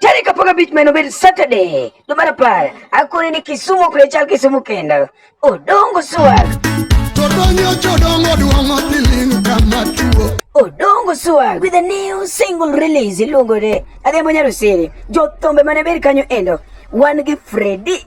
Tani kapaga beach man obed Saturday. Do mara par. Akore ni Kisumu kule chal Kisumu kenda. Odongo swag. Todonyo chodongo duongo tiling kama tuo. Odongo swag with a new single release iluongo ni Adhiambo Nyarusiri. Jothombe mane ber kanyo endo. Wan gi Freddy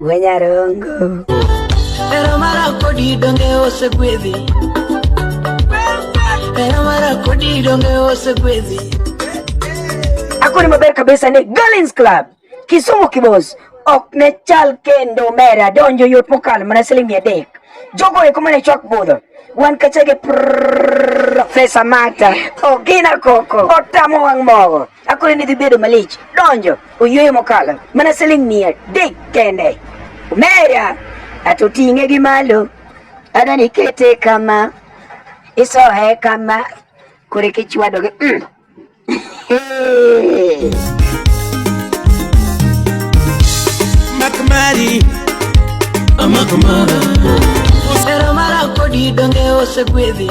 Wenyarongo. Hera mara kodi donge osegwedhi Hera mara kodi donge osegwedhi Akoni maber kabisa ni Galins Club Kisumu Kibos ok ne chal kendo mera donjo yot mokalo mana siling mia adek jogo eko mane chwak budho wan kachege Profesa Mata Ogina Koko otamo wang' mogo akoni ni dhi bedo malich donjo Oyweyo mokalo mana siling mia adek kende. Omera ato ting'e gi malo adani kete kama isohe kama kore kichwado gi mm. Makmari Amakamara Osera mara kodi donge osegwedhi